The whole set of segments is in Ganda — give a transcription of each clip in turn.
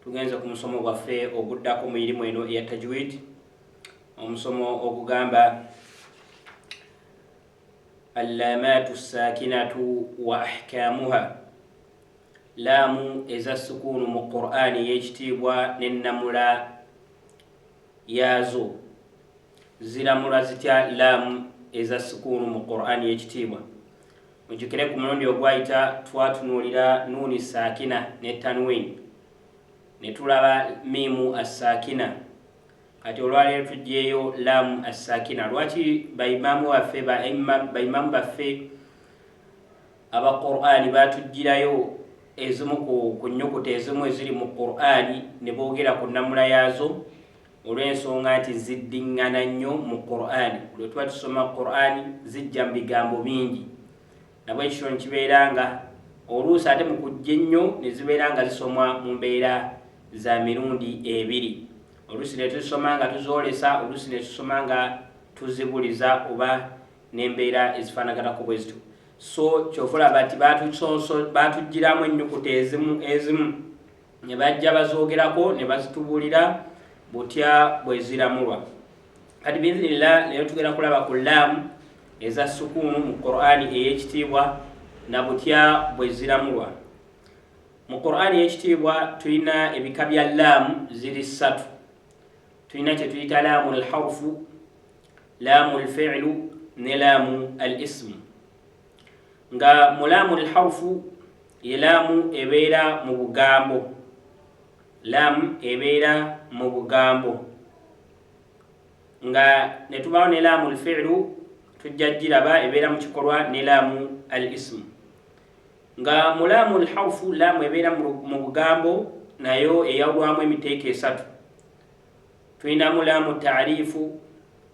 Tugenze ku musomo gwaffe oguddako mu irimu eno eya tajwid omusomo ogugamba allamatu sakinatu wa ahkamuha laamu eza sukuunu mu qur'ani ey'ekitiibwa n'ennamula yaazo ziramula zitya laamu eza sukuunu mu qur'ani ey'ekitiibwa Mujjukire ku mulundi ogwayita twatunuulira Nuuni Saakina ne Tanwin ne tulaba Miimu Assaakina. Kati olwaleero tuggyeeyo Laamu Assaakina. Lwaki baimaamu baffe baimaamu baffe aba Qur'ani baatuggyirayo ezimu ku nnyukuta ezimu eziri mu Qur'ani ne boogera ku nnamula yaazo? olw'ensonga nti ziddiŋŋana nnyo mu qur'ani lwe tuba tusoma qur'ani zijja mu bigambo bingi nabwe ekityo nekibeera nga oluusi ate mu kujja ennyo ne zibeera nga zisomwa mu mbeera za mirundi ebiri oluusi ne tuzisoma nga tuzoolesa oluusi ne tusoma nga tuzibuliza oba n'embeera ezifaanaganako bwe zityo so kyova olaba nti baatujjiramu ennyukuta ezimu ezimu ne bajja bazoogerako ne bazitubuulira butya bwe ziramulwa kati biiznillah leero tugenda kulaba ku laamu eza sukuunu mu qur'ani ey'ekitiibwa na butya bwe ziramulwa mu qur'ani ey'ekitiibwa tulina ebika bya laamu ziri ssatu tulina kye tuyita laamu lhaufu laamu lfiilu ne laamu al isimu Nga mulaamu lharfu ye laamu ebeera mu bugambo, laamu ebeera mu bugambo nga ne tubaawo ne laamu lfiilu tujja giraba ebeera mu kikolwa ne laamu al isimu nga mulaamu lharfu laamu ebeera mu bugambo nayo eyawulwamu emiteeko esatu tulinamu laamu taarifu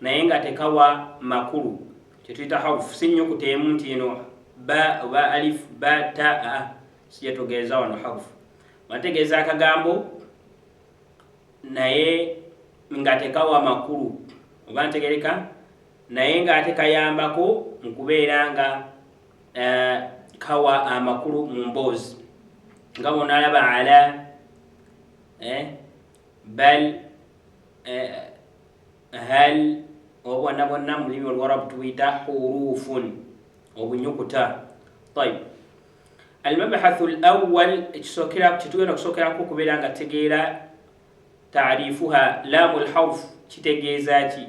naye nga tekawa makulu kyetuyita haufu si nyuku teemu nti eno ba oba alif ba ta a sijetugeeza wano haufu bategeeza akagambo naye nga tekawa makulu oba ntegereka naye nga ate kayambako mu kubeera nga uh, kawa amakulu mu mboozi nga bonalaba ala eh, bal hal obwana bonna mu lulimi oluwarabu tubuyita hurufun obunyukuta tayib almabahathu lawal ekisokera kyetugenda okusokerako okubeera nga tegeera taarifuha laamu lharf kitegeeza ki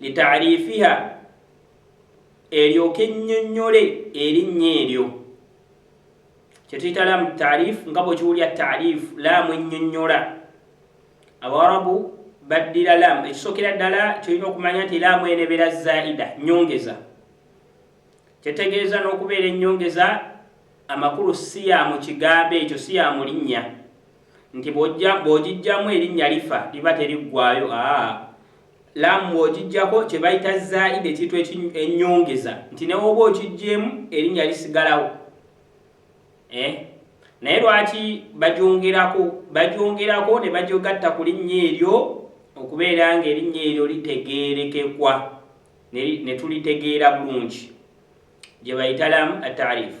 litaarifiha eryoke ennyonnyole erinnya eryo kyetuyita laamu taarifu nga bwekiwulira taarifu laamu ennyonnyola abawarabu baddira laamu ekisookera ddala kyolina okumanya nti laamu enebera zaida nyongeza kyetegeeza n'okubeera ennyongeza amakulu si ya mu kigambo ekyo si ya mu linnya Nti bw'ojja, bw'ogiggyamu erinnya lifa, liba teriggwaayo, aa, Laamu bw'ogiggyako kye bayita zaida, ekintu eki, ennyongeza, nti ne w'oba okiggyeemu, erinnya lisigalawo. Eh? Naye lwaki bagyongerako, bagyongerako ne bagyogatta ku linnya eryo, okubeera nga erinnya eryo litegeerekekwa, ne, ne tulitegeera bulungi. Gye bayita Laamu At-Taarifu.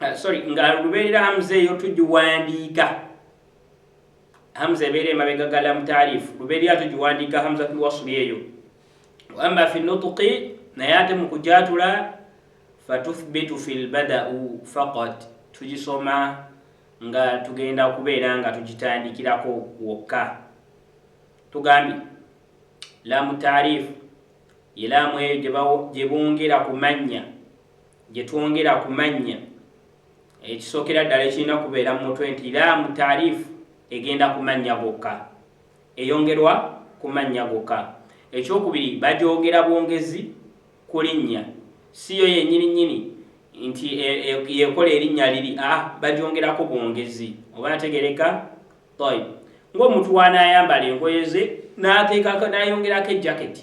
uh, sorry nga lubeerera hamza eyo tugiwandiika hamza ebeera emabega gala mutaarifu lubeerera tugiwandiika hamza tulwasuli eyo waama fi nutuki naye ate mu kujatula fatuthbitu fi lbadau faqat tugisoma nga tugenda okubeera nga tugitandikirako wokka tugambye lamu taarifu yelaamu eyo gyebongera ku mannya Gye twongera ku mannya, ekisookera ddala ekirina kubeera mu mutwe nti laamu taariif egenda ku mannya gokka, eyongerwa ku mannya gokka. Ekyokubiri, bagyogera bwongezi ku linnya, si yo yennyininnyini nti e, e, y'ekola erinnya liri, aa, bagyongerako bwongezi. Oba ategereka? Tayib. Ng'omuntu w'anaayambala engoye ze, n'ateekako, n'ayongerako ejjaketi,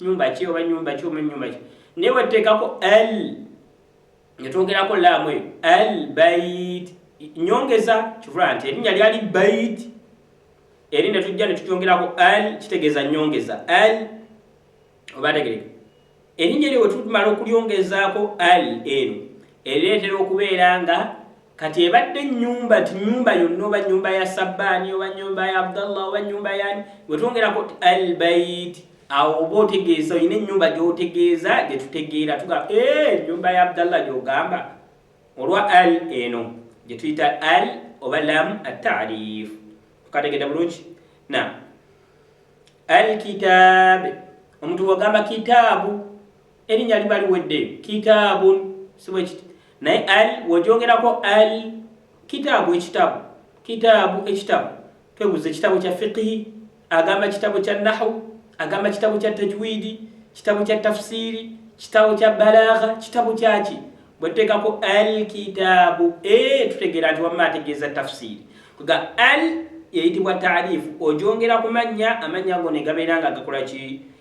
nyumba ki oba nyumba ki oba nyumba ki naye wetuteekako al netwongerako laamu eyo al bait nyongeza kivula nti erinnya lyali bait eri netujja netutyongerako al kitegeeza nyongeza al obategereka erinnya eryo wetumala okulyongezaako al eno Ereetera okubeera nga kati ebadde nnyumba nti nnyumba yonna oba nnyumba ya sabbaani oba nnyumba ya abdallah oba nnyumba yani wetwongerako ti albait awo oba otegeeza olina ennyumba gyotegeeza gyetutegeera tuga ennyumba ya abdallah gyogamba olwa al eno gyetuyita al oba lam atarif tukategedde bulungi na alkitaabe omuntu wagamba kitaabu Erinnya liba liwedde, kitaabun, si bwe kiti? Naye al w'ogyogerako al kitaabu ekitabo, kitaabu ekitabo, twebuuza ekitabo kya fiqihi, agamba kitabo kya nahu, agamba kitabo kya tajwidi, kitabo kya tafsiiri, kitabo kya balaagha, kitabo kyaki? Bwe tuteekako al kitaabu, ee eh, tutegeera nti wamma ategeeza tafsiiri. Kuga al eyitibwa taarifu, ogyongera ku mannya, amannya ago ne gabeera nga gakola ki?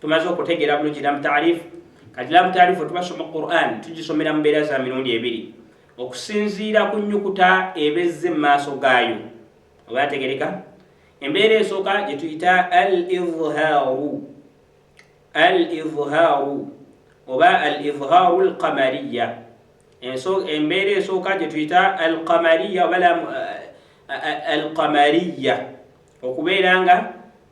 tumaze okutegeera bulungi lamu taarifu kati lamu taarifu tubasoma quran tugisomera mu mbeera za mirundi ebiri okusinziira ku nyukuta ebezze mu maaso gaayo oba yategereka embeera esooka gye tuyita al izhaaru al izhaaru oba al izhaaru al qamariya embeera esooka gye tuyita al qamariya oba eh, eh, eh, al qamariya okubeera nga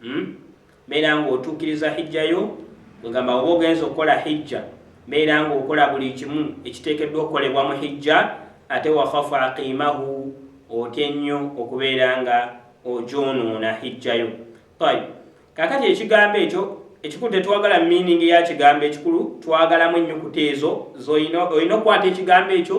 hmm? mbeera ng'otuukiriza hijja yo kwegamba oba ogenza okukola hijja mbeera ng'okola buli kimu ekiteekeddwa okukolebwa mu hijja ate wakhafu aqimahu otye nnyo okubeera nga ogyonoona hijja yo tayib kakati ekigambo ekyo ekikulu tetwagala miiningi ya kigambo ekikulu twagalamu ennyukuta ezo olina okukwata ekigambo ekyo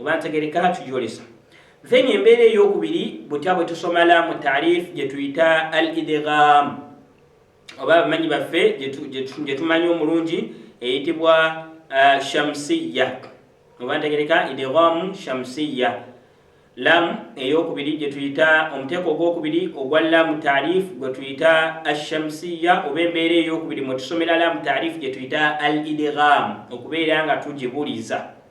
oba ntegereka hatujolesa then embeera eyokubiri butya bwe tusoma laamu taarif gye tuyita al idgham oba abamanyi baffe gye tumanyi omulungi eyitibwa uh, shamsiya oba ntegereka idghamu shamsiya laamu eyokubiri gye tuyita omuteeko ogwokubiri ogwa laamu taarif gwe tuyita ashamsiya oba embeera eyokubiri mwe tusomera laamu taarif gye tuyita al idgham okubeera nga tugibuliza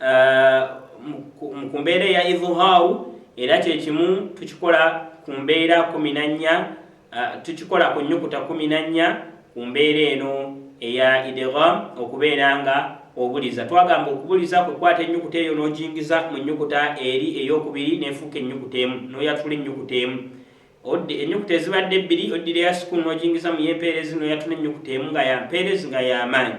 uh, mu kumbeera eya idhuhaawu era kyekimu tukikola ku mbeera kumi na nnya uh, tukikola ku nyukuta kumi na nnya ku mbeera eno eya idgham okubeera nga obuliza twagamba okubuliza kwekwata enyukuta eyo n'ogingiza mu nyukuta eri eyokubiri nefuuka enyukuta emu noyatula enyukuta emu odde enyukuta ezibadde ebbiri oddira ya sukulu n'ogingiza mu yempeerezi noyatula enyukuta emu nga yampeerezi nga yamaanyi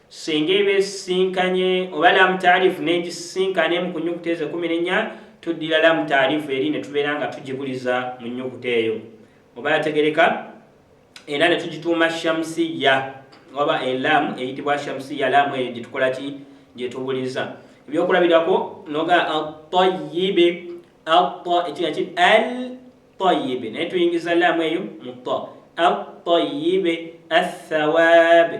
singa eba esisinkanye oba lamu taarifu n'egisisinkana emu ku nnyukuta ezo ekkumi n'ennya tuddira lamu taarifu eri ne tubeera nga tugibuliza mu nnyukuta eyo oba yategereka era ne tugituuma shamusiya oba elamu eyitibwa shamusiya lamu eyo gye tukola ki gye tubuliza ebyokulabirako noga atayibe ata ekiga ki al tayibe naye tuyingiza lamu eyo mu ta atayibe athawaabe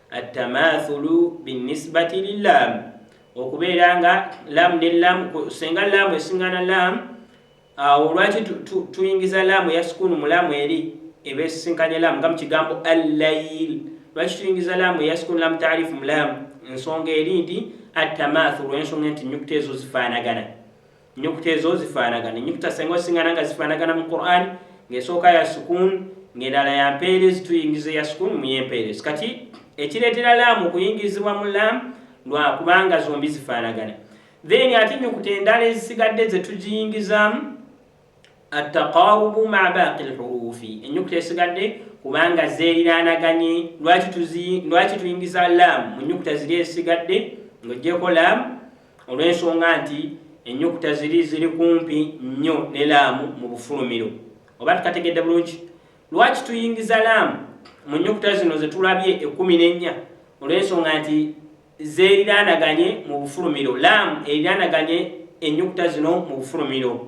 attamaathulu binnisbati lilaamu okubeera nga laamu ne laamu senga laamu esingana laamu awo lwaki tuyingiza laamu ya sukuunu mu laamu eri eba esisinkanye laamu nga mu kigambo allayil lwaki tuyingiza laamu eya sukuunu laamu taarifu mu laamu ensonga eri nti attamaathulu ensonga nti nyukuta ezo zifaanagana Ennyukuta ezo zifaanagana. Ennyukuta senga osingana nga zifaanagana mu Quran, ng'esooka ya sukuun, ng'endala ya mpeerezi, tuyingiza ya sukuun mu y'empeerezi. Kati ekireetera laamu okuyingirizibwa mu laamu lwa kubanga zombi zifaanagana. Then ate ennyukuta endala ezisigadde ze tugiyingizaamu attaqawubu ma baaqi lhuruufi, ennyukuta esigadde kubanga zeeriraanaganye. Lwaki tuyingiza laamu mu nnyukuta ziri ezisigadde ng'ogyeko laamu olw'ensonga nti ennyukuta ziri ziri kumpi nnyo ne laamu mu bufulumiro. Oba tukategedde bulungi? Lwaki tuyingiza laamu mu nnyukuta zino ze tulabye ekkumi n'ennya? Olw'ensonga nti zeeriraanaganye mu bufulumiro. Laamu eriraanaganye ennyukuta zino mu bufulumiro.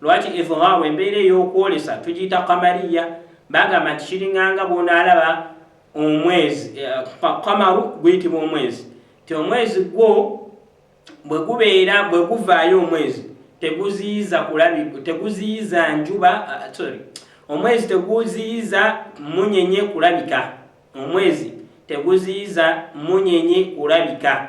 lwaki idhaaru embeera ey'okwolesa tugiyita kamariya bagamba nti kiringanga bwonaalaba omwezi kamaru eh, guyitibwa omwezi ti omwezi gwo bwe gubeera bwe guvaayo omwezi teguziyiza kulabi teguziyiza njuba ah, sorry omwezi teguziyiza munyenye kulabika omwezi teguziyiza munyenye kulabika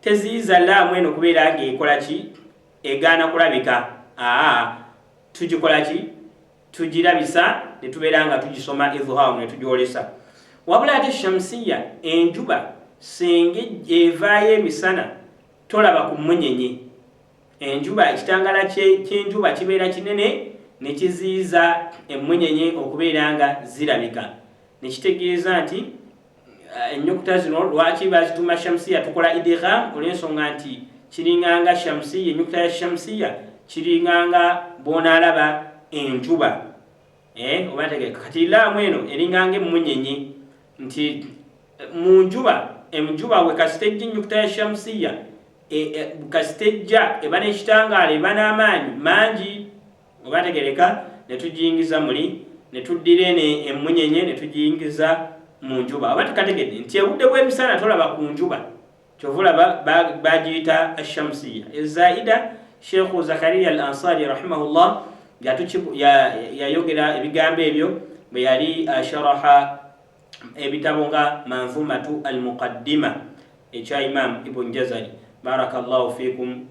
Teziyiza laamu eno kubeera nga ekola ki? Egaana kulabika. Aa, tugikola ki? Tugirabisa ne tubeera nga tugisoma idhhaaru ne tugyolesa. Wabula ate shamsiyya, enjuba, singa ejj, evaayo emisana, tolaba ku mmunyenye. Enjuba, ekitangaala kye, ky'enjuba kibeera kinene ne kiziyiza emmunyenye okubeera nga zirabika. Ne kitegeeza nti. Eh, ennyukuta zino lwaki bazituuma shamsiya tukola idigham olw'ensonga nti kiringanga shamsiya ennyukuta ya shamsiya kiringanga bwonaalaba enjuba eh, oba ntegeka kati laamu eno eringanga emmunyenye nti eh, mu njuba enjuba we kasita ejja ennyukuta ya shamsiya kasita ejja eba n'ekitangaala eba n'amaanyi mangi Bwe baategereka, ne tugiyingiza muli, ne tuddira eno emmunyenye ne tugiyingiza mu njuba. Oba tukategedde nti obudde bw'emisana tolaba ku njuba. Kyova olaba baagiyita Ashamsiya Ezaida. Sheikhu Zakariya Al Ansari rahimahullah yayogera ebigambo ebyo bwe yali asharaha ebitabo nga Manzumatu Al Muqaddima ekya Imam Ibn Jazari. Barakallahu fikum.